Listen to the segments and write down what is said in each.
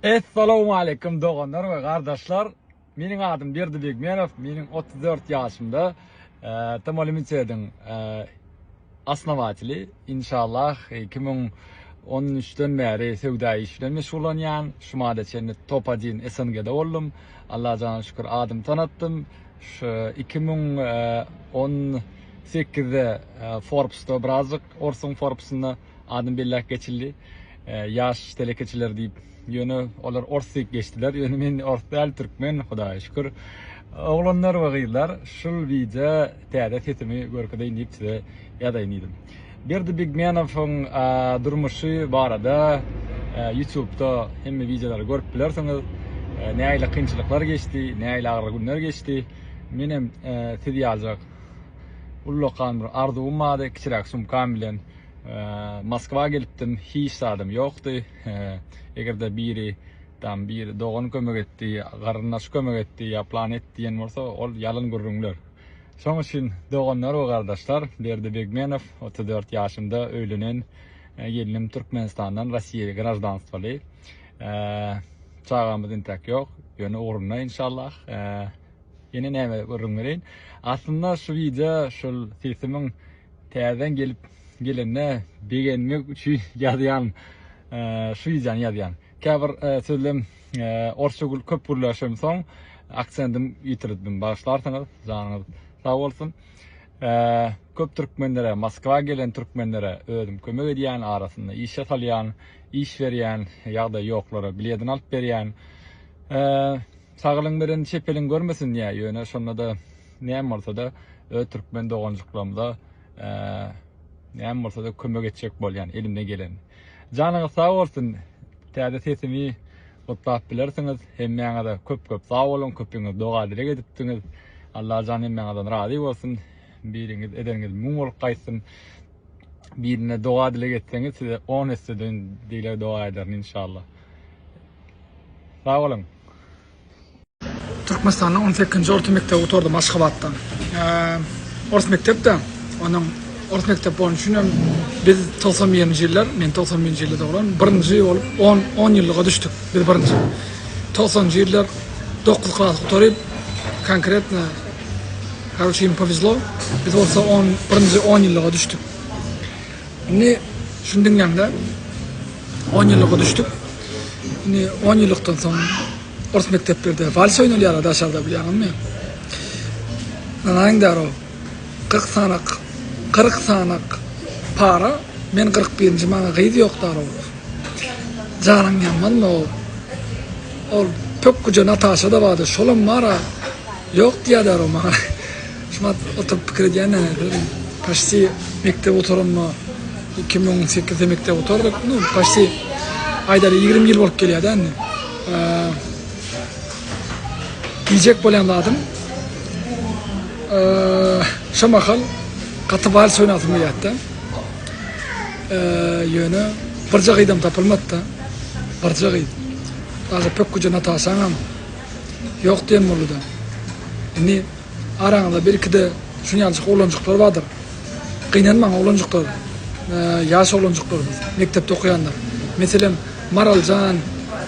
Essalowmaleýkum doganlar we gardaşlar. Meniň adym Berdi Begmenow. Meniň 34 ýaşymda Tamo Limitediň asnawatyly. Inşallah 2013-den bäri söwda işi bilen meşgullanýan. Şu mada çenli top 1 SNG-de boldum. Allaha jana şükür adymy tanatdym. Şu 2018-de Forbes-da birazjyk orsuň Forbes-ynda Adyny belläp geçildi. Ýaş telekeçiler diýip. Ýöne olar ors diýip geçdiler. Ýöne men ors däl, türkmen, Hudaýa şükür. Oglanlar we gyzlar, şul wideo täze sesimi görkezeýin diýip size ýazaýyn diýdim. Berdi Bigmenowyň durmuşy barada ýutubda hemme wideolary görüp bilersiňiz. Nähili kynçylyklar geçdi, nähili agyr günler geçdi. Menem siz ýaljak ullakan bir arzuwym bardy, kiçiräk sumkam bilen. Moskwa gelipdim, hiç zadym ýokdy. Eger-de biri tam bir dogan kömek etdi, garyndaş kömek etdi, ýa plan et diýen bolsa, ol ýalyn gürrüňler. Şoň üçin doganlar we gardaşlar, Berdi Begmenow, otuz dört ýaşymda öýlenen, gelnim Türkmenistandan Rossiýa graždanstwoly. Çagamyz intäk ýok, ýöne ugrunda inşallah. Ýene näme gürrüň bereýin. Aslynda şu wideo şol sesimiň täzeden gelip gelende begenmek üçin ýazýan şu wideony ýazýan. Käbir sözlem orsça köp gürläşem soň aksentim ýitirdim. Bagyşlarsyňyz, janyňyz sag bolsun. Köp türkmenlere, Moskwa gelen türkmenlere özüm kömek edýän, arasynda işe salýan, iş berýän, ýagdaýy ýoklara biledini alyp berýän. Sagalyn beren çepelin görmesin diýä ýöne şondada näme bolsada öz türkmen doganjyklarymyza näme bolsada kömek etjek bolýan elimden geleni. Janyňyz sag bolsun täze sesimi gutlap bilersiňiz hemmäňize köp köp sag boluň köpiňiz doga dileg edipdiňiz Allajan hemmäňizden razy bolsun biriňiz edeniňiz müň bolup gaýtsyn. birine doga dileg etseňiz size on esse dön dileg doga ederin inşallah. Sag boluň. Türkmenistanda on sekizinji orta mekdebi gutardym Aşgabatda. Ors mekdepde, onuň ors mekdep bolany üçin hem biz togsan birinji ýyllar, men togsan birinji ýylda doglan, birinji bolup on on ýyllyga düşdük biz birinji. Togsanjy ýyllar dokuz klas gutaryp, konkretno Karoçe im powezlo biz bolsa on birinji on ýyllyga düşdük. Indi şuny diňläňde on ýyllyga düşdük. Indi on ýyllykdan soň ors mekdeplerde vals oýnalýar daşarda bilýäňizmi? Nanaň daro 40 sanak 40 sanak para men 41-nji maňa gyz ýok daro. Janyň ýanmazmy ol? Ol pökgüje Nataşa da bardy şolam bara. Ýok diýýärler o maňa. Şuňa oturyp pikir edýän-ä. Paşti mekdep oturanda iki müň on sekizde mekdep oturdyk. Nu, paşti aýdaly ýigrimi ýyl bolup gelýär-dä indi. Diýjek bolýan zadym, şo mahal gaty wals oýnasym gelýärdi-de. Ýöne birje gyzam tapylmady-da. Birje gyz. Daže pökgüje Nataşaňam. Ýok diýen boldy-da. Indi araňyzda birki-de şunýançyk oglanjyklar bardyr. Gynanmaň oglanjyklar, ýaş oglanjyklarymyz, mekdepde okaýanlar. Meselem, Maral jan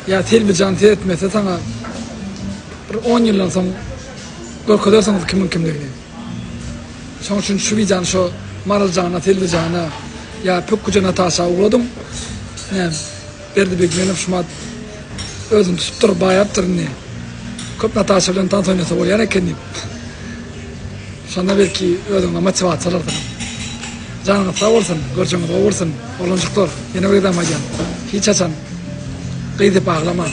ýa Selbi jan seretmese saňa bir on ýyldan soň görkezersiňiz kimiň kimdigini. Şoň üçin şu wideony şo Maral jana, Selbi jana ýa pökgüje Nataşa ugradyň. Näme? Berdi Begmenow şumat özüni tutupdyr, baýapdyr indi. Köp Nataşa bilen tans oýnasa bolýan eken diýip. Şonda belki özüňe motiwasiýa alarsyň. Janyňyz sag bolsun, görjeňiz gowy bolsun, oglanjyklar. Ýene bir gezegem aýdýan, hiç haçan gyz diýip aglamaň.